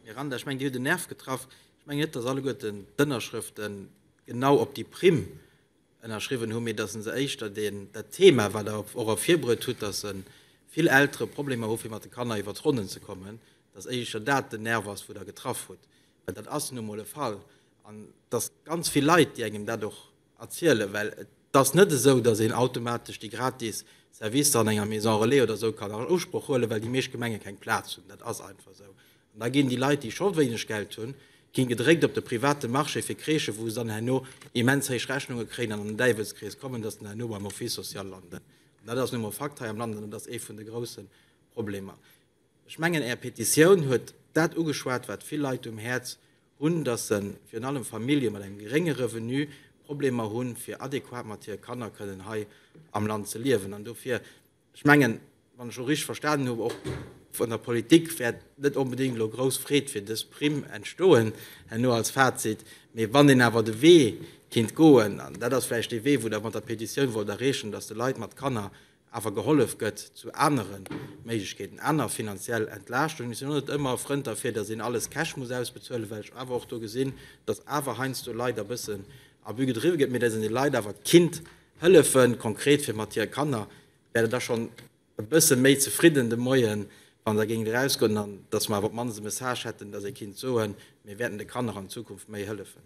Miranda, ech mengen Dir hutt en Nerv getraff. Ech mengen net, datt alleguerten d'Ënnerschrëfte genau op déi Primm ënnerschriwwen hunn, mee datt se éischter dat Thema, wat Der och ervirbruet hutt, datt vill Eltere Problemer hu fir mat de Kanner iwwer d'Ronnen ze kommen, datt éischter dat den Nerv ass, wou Der getraff hutt. Well dat ass nun emol e Fall. An datt ganz vill Leit, déi engem dat och erzielen, well et ass net esou, dass een automatesch déi gratis Servicer an enger Maison relais oder esou kann an Usproch huelen, well déi meescht Gemenge keng Plaz hunn. Dat ass einfach esou. An da ginn déi Leit, déi scho wéineg Geld hunn, ginn gedréckt op de private Marché fir Crèchen, wou se dann herno immens héich Rechnunge kréien an an den Däiwelskrees kommen, dass se dann herno beim Office social landen. An dat ass nu emol Fakt hei am Land an dat ass ee vun de grousse Problemer. Ech mengen, Är Petitioun huet dat ugeschwat, wat vill Leit um Häerz hunn, dass se, virun allem Famillje mat engem gerénge Revenu, Problemer hu fir adequat mat hire Kanner kënnen hei am Land ze liewen. An dofir, ech mengen, wann ech och richteg verstanen hunn, och vun der Politik wäert net onbedéngt elo grouss Freed fir dës Primm entstoen herno als Fazit. Mee wann een awer de Wee kinnt goen, an dat ass vläicht dee Wee, wou Der mat der Petitioun wollt erreechen, dass de Leit mat Kanner awer gehollef gëtt zu anere Méiglechkeeten, aner finanziell Entlaaschtung. Ech sinn och net ëmmer e Frënd derfir, datt een alles Cash muss ausbezuelen, well ech awer och do gesinn, datt awer heiansdo Leit e bëssen Abus gedriwwe gëtt, mee datt een de Leit awer kinnt hëllefe konkret fir mat hire Kanner, wär et da schonn e bësse méi zefridden de Moien, wa se géingt erausgoen, an datt mer awer op d'mannst e Message hätten, datt ee kinnt soen, mir wäerten de Kanner an Zukunft méi hëllefen.